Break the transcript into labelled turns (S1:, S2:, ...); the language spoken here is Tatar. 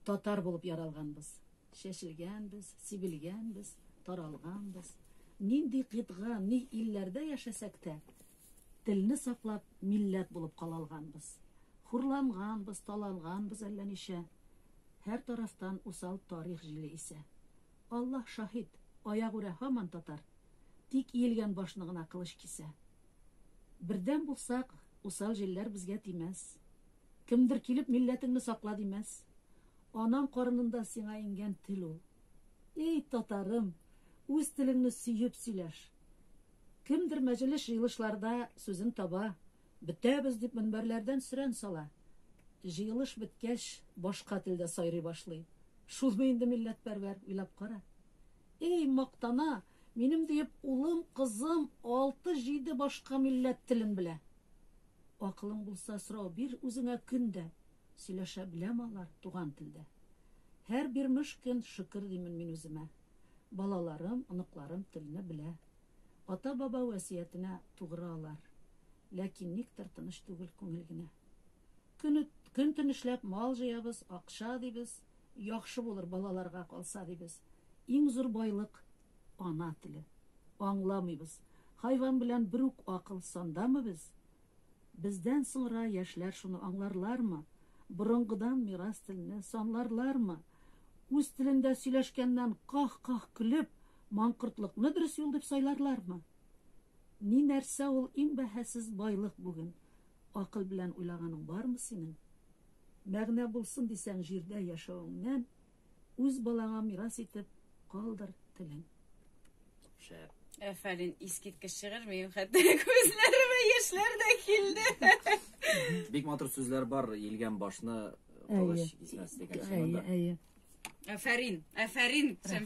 S1: Татар булып яралганбыз. Чәчелгәнбез, сибелгәнбез, таралганбыз. Нинди кыйтга, ни илләрдә яшәсәк тә, телне саклап, милләт булып кала алганбыз. Хурланганбыз, таланганбыз әллә ничә. Һәр тарафтан усал тарих җиле исә. Аллаһ шаһит, аягүрә һаман татар. Тик иелгән башны гына кылыч кисә. Бердәм булсак, усал җилләр безгә тимәс. Кемдер килеп милләтеңне сакла димәс. Анаң карынындан сиңа иңгән тел ул. Эй, татарым, үз телеңне сөеп сөйләш. Кемдер мәҗелес җыелышларда сүзен таба, бетәбез дип мөнбәрләрдән сөрән сала. Җыелыш беткәч, башка телдә сайрый башлый. Шулмы инде милләтпәрвәр, уйлап кара. Эй, мактана, Минем диеп улым, кызым алты-җиде башка милләт телен белә. Акылың булса, сорау бир үзеңә көн дә, сөйләшә беләме алар туган телдә? Һәр бирмеш көн шөкер димен мин үземә. Балаларым, оныкларым телне белә. Ата-баба вәсиятенә тугры алар. Ләкин никтер тыныч түгел күңел генә. Көн-төн эшләп мал җыябыз, акча дибез. Яхшы булыр балаларга калса дибез. Иң зур байлык, ана теле. Аңламыйбыз. Хайван белән бер үк акыл сандамы без? Бездән соңра яшьләр шуны аңларлармы? Борынгыдан мирас телне санларлармы? Үз телендә сөйләшкәннән ках-ках көлеп, маңкортлыкны дөрес юл дип сайларлармы? Ни нәрсә ул иң бәһасез байлык бүген? Акыл белән уйлаганың бармы синең? Мәгънә булсын дисәң җирдә яшәвеңнән, үз балаңа мирас итеп калдыр телен.
S2: Шәп. Әфәрин,
S3: искиткеч шигырь, минем хәтта күзләремә яшьләр дә килде. Бик матур сүзләр
S2: бар, елган башны кылыч кисмәс
S3: дигән сүз монда. Әйе,
S2: әйе. Әфәрин, әфәрин, Шәмсия.